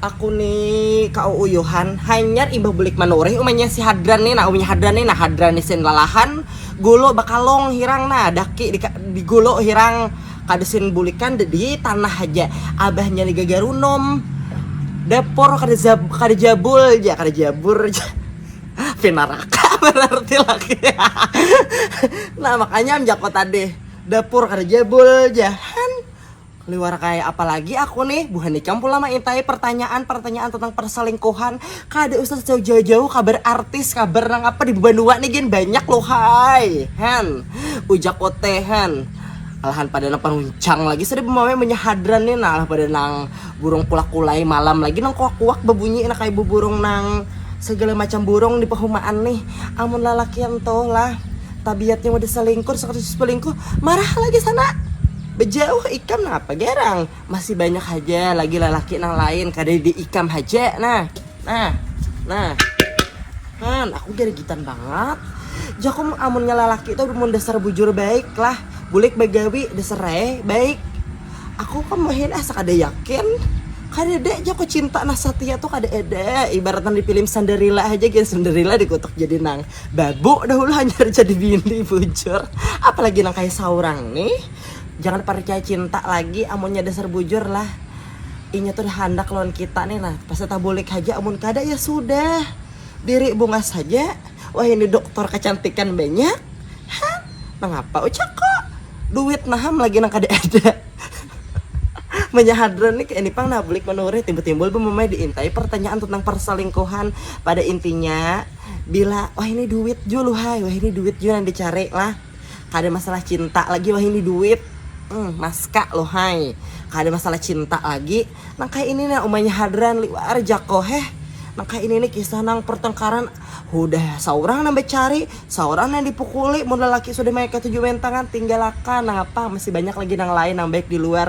Aku ni kauuyuhan hanyar imbah bulik manurih umanya si Hadran ni nah, umanya Hadran ni nah, Hadran ni sin lalahan gulu bakalung hirang nah, daki di gulu hirang kada sin bulikan di tanah haja, abahnya ni gagarunum, dapur kada jabul ja, kada jabur ja pinaraka banar ti laki nah makanya am jaku tadi dapur kada jabul ja han. Liwar kaya apa lagi aku nih, buhan ikam pula maintai pertanyaan pertanyaan tentang perselingkuhan, kada usah jauh jauh kabar artis kabar nang apa di banua nih gin banyak lu hai han ujak uti han, alahan pada nang panuncang lagi sudah bamawai munnya hadran nih nah alah pada nang burung kulak kulai malam lagi nang kuak kuak babunyi nah kaya buburung nang segala macam burung di pahumaan nih amun lalakian tuh lah tabiatnya mudah selingkur suka selingkuh marah lagi sana. Bejauh ikam napa garang, masih banyak haja lagi lalaki nang lain kada di ikam haja nah, nah, nah. Han, aku garigitan bangat. Jaku amunnya lalaki tu mun dasar bujur baik lah, bulik bagawi dasar rae baik. Aku kam wahini asa kada yakin. Kadada jaku cinta nang satia tu kada ada, ibarat nang di pilim Sanderila haja gin Sanderila dikutuk jadi nang Babuk dahulu hanyar jadi bini bujur apalagi nang kaya saurang nih jangan parcaya cinta lagi amunnya dasar bujur lah inya tuh handak lawan kita nih nah pasti tabulik haja amun kada ya sudah diri bungas haja wahini doktor kacantikan banyak ha mangapa ucakko duit naham lagi nang kada ada munnya hadran nih ini pang nah bulik manurih timbul-timbul bumamai diintai partanyaan tentang parsalingkuhan pada intinya. Bila wahini duit jua luhai wahini duit jua nang dicari lah kada masalah cinta lagi wahini duit um maska luhai kada masalah cinta lagi nang kaya ini nah umanya hadran liwar jako heh nang kaya ini nih kisah nang pertengkaran hudah saurang nang becari saurang nang dipukuli mun lelaki sudah maya ketu jua main tangan tinggalakan nangapa masih banyak lagi nang lain nang baik diluar.